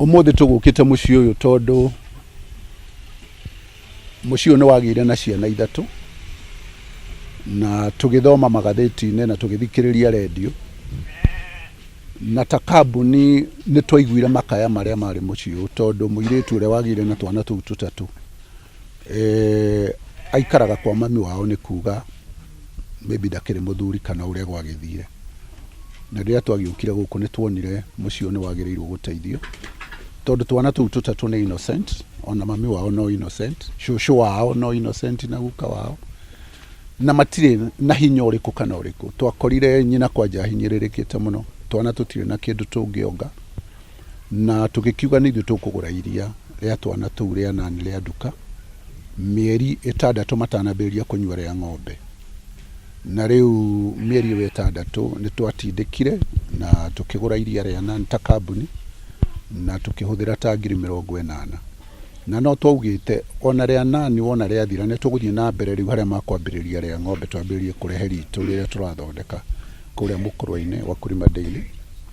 Ũmũthĩ tũgũkĩte mũciĩ ũyũ tondũ mũciĩ ũyũ nĩ wagĩire na ciana ithatũ na tũgĩthoma magathĩti-inĩ na tũgĩthikĩrĩria redio na ta kambuni nĩ twaiguire makaya marĩa marĩ mũciĩ ũyũ tondũ mũirĩtu ũrĩa wagĩire na twana tũu tũtatũ Eh, aikaraga kwa mami wao nĩ kuga maybe ndakĩrĩ mũthuri kana ũrĩa gwagĩthire na rĩrĩa twagĩũkire gũkũ nĩ tuonire mũciĩ ũyũ nĩ wagĩrĩirwo gũteithio tondũ twana tũu tũtatũ nĩ innocent ona mami wao no innocent cũcũ wao no innocent na guka wao na matirĩ na hinya ũrĩkũ kana ũrĩkũ twakorire nyina kwanja ahinyĩrĩrĩkĩte mũno twana tũtirĩ na kĩndũ tũngĩonga Na tũgĩkiuga nĩ ithuĩ tũkũgũra iria rĩa twana tũu rĩa nani rĩa nduka, mĩeri ĩtandatũ matanambĩrĩria kũnyua rĩa ng'ombe. Na rĩu mĩeri ĩyo ĩtandatũ nĩ twatindĩkire na tũkĩgũra iria rĩa nani ta kambuni, na tũkĩhũthĩra ta ngiri mĩrongo ĩnana. Na no twaugĩte ona rĩa nani wona rĩathira nĩ tũgũthiĩ na mbere rĩu harĩa makwambĩrĩria rĩa ng'ombe twambĩrĩrie kũrehe ritũ rĩrĩa tũrathondeka kũrĩa Mũkũrwa-inĩ, Wakulima Dairy.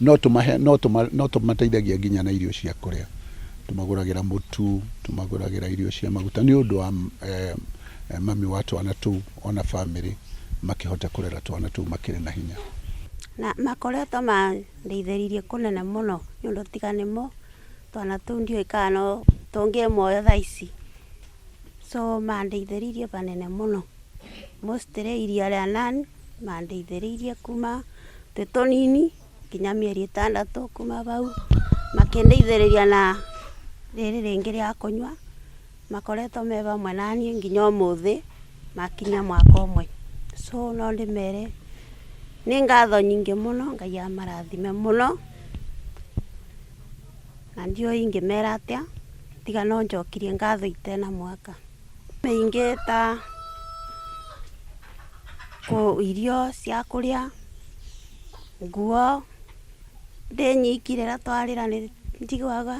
No tũmahe, no tũma, no tũmateithagia nginya na irio cia kũrĩa. Tũmagũragĩra mũtu, tũmagũragĩra irio cia maguta nĩ ũndũ wa eh, mami wa twana tũu ona bamĩrĩ makĩhote kũrera twana tũu makĩrĩ na hinya. Na makoretwo mandeithĩrĩirie kũnene mũno nĩ ũndũ tiga nĩmo twana tũu ndiũĩ kana no tũngĩmoya thaa ici. So mandeithĩrĩirie banene mũno. mostly iria rĩa Nan, mandeithĩrĩirie kuma twĩ tũnini nginya mĩeri ĩtandatũ, kuma bau makĩndeithĩrĩria na rĩrĩ rĩngĩ rĩa kũnyua, makoretwo me bamwe naniĩ nginya ũmũthĩ makinyia mwaka ũmwe, so no ndĩmere nĩ ngatho nyingĩ mũno, Ngai amarathime mũno, na ndiũĩ ingĩmera atĩa, tiga no njokirie ngatho itena mwaka. Mĩingĩ ta irio cia kũrĩa, nguo, ndĩ nyiki rĩrĩa twarĩra nĩ njiguaga,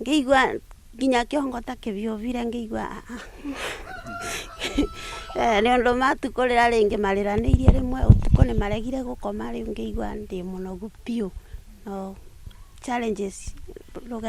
ngĩigua nginya kĩongo ta kĩbiubire ngĩigua aa nĩ ũndũ matukũ rĩrĩa rĩngĩ marĩranĩirie rĩmwe ũtukũ nĩ maregire gũkoma rĩu ngĩigua ndĩ mũnogu biũ no challenges rũgendo.